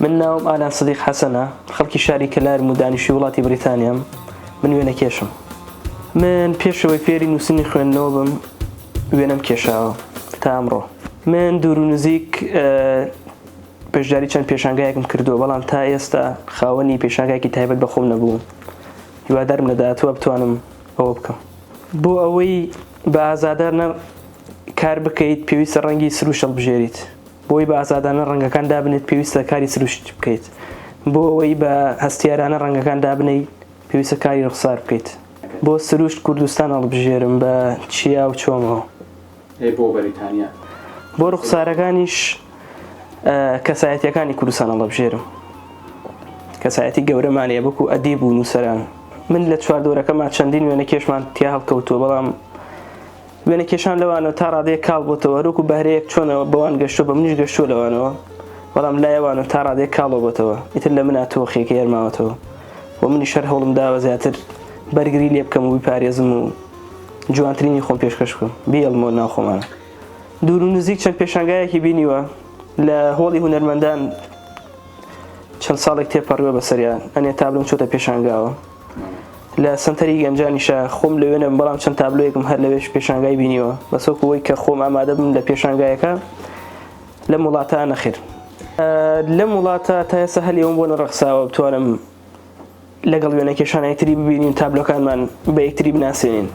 من ناوم ئالان سدیق حەسەنە خەڵکی شاری کەلارم و دانیشی وڵاتی بریتانیام من وێنە کێشم من پێشەوەی فێری نووسنی خوێندنەوە بم وێنەم کێشاوە تا ئەمڕۆ من دوور و نزیک پێشداری چەند پێشانگایەکم کردووە بەڵام تا ئێستا خاوەنی پێشانگایکی تایبەت بە خۆم نەبووم هیوادارم لە داهاتوە بتوانم ئەوە بکەم بۆ ئەوەی بە ئازادار نە کار بکەیت پێویستە ڕەنگی سروشەڵ بژێریت بۆی بە ئازادانە ڕەنگەکان دابنێت پێویستە کاری سروشت بکەیت بۆ ئەوەی بە هەستیارانە ڕەنگەکان دابنەی پێویستە کاری ڕوخسار بکەیت بۆ سروشت کوردستان هەڵبژێرم بە چیا و چۆمەوە ئەی بۆ بەریتانیا بۆ ڕوخسارەکانیش کەسایەتیەکانی کوردستان هەڵبژێرم کەسایەتی گەورەمانەیە بکو ئەدیب و نووسەران من لە چواردۆرەکەمان چەندین وێنە کێشمان تیا هەڵکەوتووە بەڵام وێنەکێشان لەوانەوە تا ڕادەیەک کاڵ بۆتەوە هەروەکو بەهرەیەک چۆن بەوان گەشتووە بە منیش گەشتووە لەوانەوە بەڵام لای ئەوانەوە تا ڕادەیەک کاڵۆ بۆتەوە ئیتر لە منا تۆخێکی هەرماوەتەوە و منیش هەر هەوڵم داوە زیاتر بەرگری لێ بکەم و بیپارێزم و جوانترینی خۆم پێشکەش بکەم بیڵمۆ ناو خۆمانە دوور و نزیک چەند پێشانگایەکی بینیوە لە هۆڵی هونەرمەندان چەند ساڵێک تێپەڕیوە بەسەریان ئەنێ تابلۆم چۆتە پێشانگاوە لە سەنتەری گەنجانیشە خۆم لەوێ نەبم بەڵام چەند تابلۆیەکم هەر لەوێش پێشانگای بینیوە بەس وەکو ئەوەی کە خۆم ئامادە بم لە پێشانگایەکە لەم وڵاتە نەخێر لەم وڵاتە تا ئێستا هەلی ئەوم بۆ نەڕەخساوە بتوانم لەگەڵ وێنە کێشانای تری ببینین تابلۆکانمان بە یەکتری بناسێنین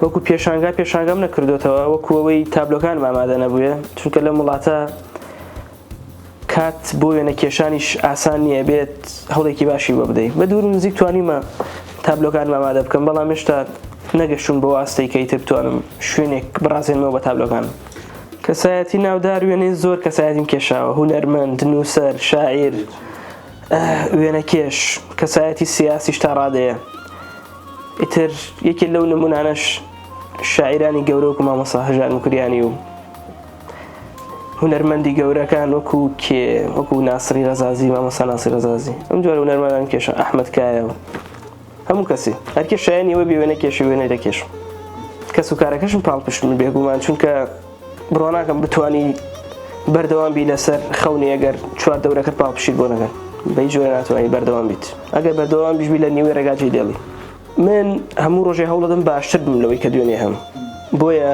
وەکو پێشانگا پێشانگام نەکردوێتەوە وەکو ئەوەی تابلۆکان ئامادە نەبووە چونکە لەم وڵاتە کات بۆ وێنە کێشانیش ئاسان نییە بێت هەوڵێکی باشی بۆ بدەیت بە دوور و نزیک توانیمە تابلۆکانم ئامادە بکەم بەڵام هێشتا نەگەشتون بۆ ئاستەی کەی تر بتوانم شوێنێک بڕازێنمەوە بە تابلۆکان کەسایەتی ناودار وێنەی زۆر کەسایەتیم کێشاوە هونەرمەند نووسەر شاعیر وێنە کێش کەسایەتی سیاسیش تا ڕادەیە ئیتر یەکێ لەو نمونانەش شاعیرانی گەورە و کمامەسا هەژار مکریانی و هونەرمەندی گەورەکان وەکو کێ وەکو ناسری ڕزازی مامەسا ناسی ڕزازی ئەم جۆرە هونەرمەندان کێشە ئەحمد کایەوە هەموو کەسی هەرکێ شایانی ئەوە بێوێنە کێشە وێنەی دەکێش کەس و کارەکەشم پاڵپشتن بێگومان چونکە بڕۆناکەم بتانی بەردەوام بی لەسەر خەونی ئەگەر چوار دەورەکەت پاڵپشیر بۆ نەگەن بەی جۆرە ناتوانانی بەردەوام بیت ئەگەر بەردەوام بیشبی لە نیوەی ڕێگاجی دێڵی من هەموو ڕۆژێ هەوڵەدەم باشتر بم لەوەی کە دوێنێ هەم بۆیە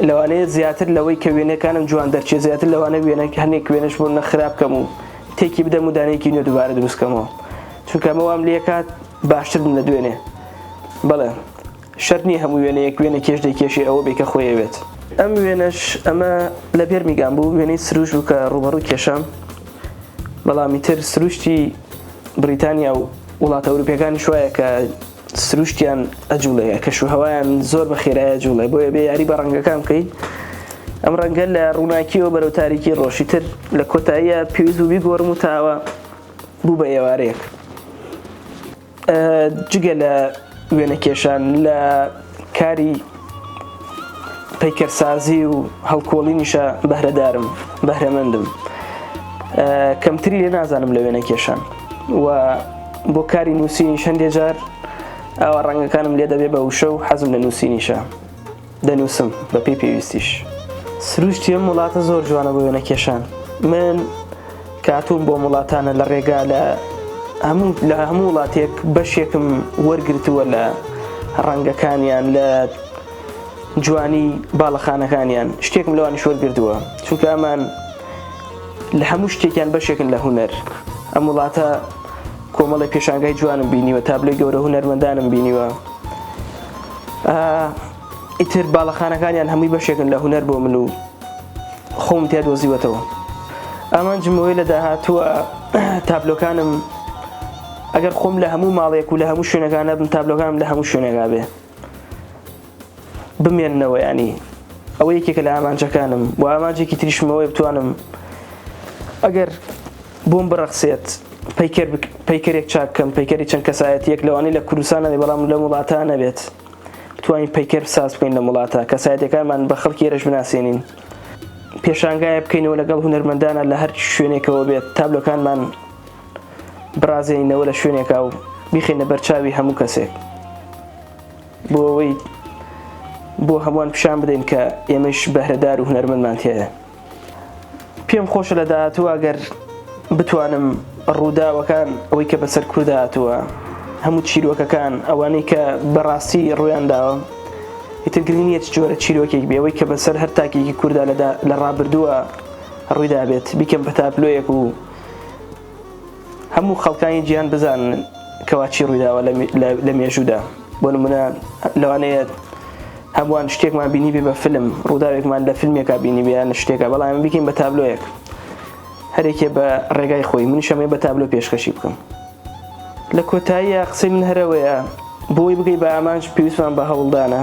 لەوانەیە زیاتر لەوەی کە وێنەکانم جوان دەرچێت زیاتر لەوانە وێنە هەنێک وێنەش بۆ نە خراپ کەم و تێکی بدەم و دانەیەکی نوێ دوبارە دروست کەمەوە چونکە ئەمە وام لێکات باشتر بم لە دوێنێ بەڵێ شەرت نییە هەموو وێنەیەک وێنە کێش دەیکێشێ ئەوە بێ کە خۆی ئەوێت. ئەم وێنەش ئەمە لە بێرمیگام بوو وێنەی سروش بوو کە ڕووبەڕووی کێشام بەڵام ئیتر سروشتی بریتانیا و وڵاتە ئەوروپیەکانیش وایە کە سروشتیان ئەجوڵێ کەش و هەوایان زۆر بە خێرای ئەجوڵێ بۆیە بێ یاری بە ڕەنگەکان بکەیت ئەم ڕەنگە لە ڕووناکیەوە بەرەو تاریکی ڕۆشی تر لە کۆتاییە پێویست بووبی گۆرم و تاوە بوو بە ئێوارەیەک جگە لە وێنەکێشان لە کاری پەیکەرسازی و هەڵکۆڵینیشە بەهرەدارم بەهرەمەندم کەمتری لێ نازانم لە وێنە کێشان و بۆ کاری نووسینیش هەندێک جار ئەوە ڕەنگەکانم لێ دەبێ بە وشە و حەزم لە نووسینیشە دەنووسم بە پێی پێویستیش سروشتی ئەم وڵاتە زۆر جوانە بۆ وێنە کێشان من کە هاتووم بۆم وڵاتانە لە ڕێگا لە هەموو لە هەموو وڵاتێک بەشێکم وەرگرتووە لە ڕەنگەکانیان لە جوانی باڵەخانەکانیان شتێکم لەوانش وەرگردووە چونکە ئەمان لە هەموو شتێکیان بەشێکن لە هوەر ئەم وڵاتە کۆمەڵی پێشانگای جوانم بینیوە تابلۆی گەورە هوەرمەندانم بینیوە ئیتر باڵەخانەکانیان هەمووی بەشێکن لە هونەر بۆ من و خۆم تیا دۆزیوەتەوە ئامانجم بەوەی لە داهاتووە تابلۆکانم ئەگەر خۆم لە هەموو ماڵێک و لە هەموو شوێنەکانە بم تابلۆکانم لە هەموو شوێنێکا بێ بمێنەوە ینی ئەوە یەکێکە لە ئامانجەکانم و ئامانجێکی تریشمەوەی بتوانم ئەگەر بۆم بڕەخسێت پیکەر پیکەرێک چاککەم پیکەری چەند کەسایەتیەک لەوانی لە کوردستانەوەی بەڵام لە وڵاتان نەبێت بتوانین پەیکەر ساز بکەین لەم وڵاتە کەسایەتەکانمان بە خەڵکی ئێرەش بناسێنین پێشانگایە بکەینەوە لەگەڵ هونەرمەندانە لە هەر شوێنێکەوە بێت تابلۆکانمان بڕازێنینەوە لە شوێنێکا و بیخینە بەرچاوی هەموو کەسێک بۆ ئەوەی بۆ هەمووان پیشان بدەین کە ئێمەش بەهرەدار و هونەرمەندمان تێە پێم خۆشە لە داهاتووە گەر بتوانم ڕووداوەکان ئەوەی کە بەسەر کوردا هاتووە هەموو چیرۆکەکان ئەوانەی کە بەڕاستی ڕویان داوە ئیتر گرنگ نییە چ جۆرە چیرۆکێک بێ ئەوەی کە بەسەر هەر تاکێکی کوردا لە ڕابردووە ڕوویدا بێت بیکەم پەتاپلۆیەک و هەموو خەڵکانی جیهان بزانن کەوا چی ڕوویداوە لە مێژوودا بۆ نمونە لەوانەیە هەمووان شتێکمان بینی بێ بە فلم ڕووداوێکمان لە فیلمێکا بینی بیان شتێکە بەڵام بکەین بە تابلۆیەک هەرێکێ بە ڕێگای خۆی منیشەمەی بە تابلۆ پێشکەشی بکەم لە کۆتاییە قسەی من هەرەوەیە بۆی بگەی بە ئامانج پێویستمان بە هەوڵدانە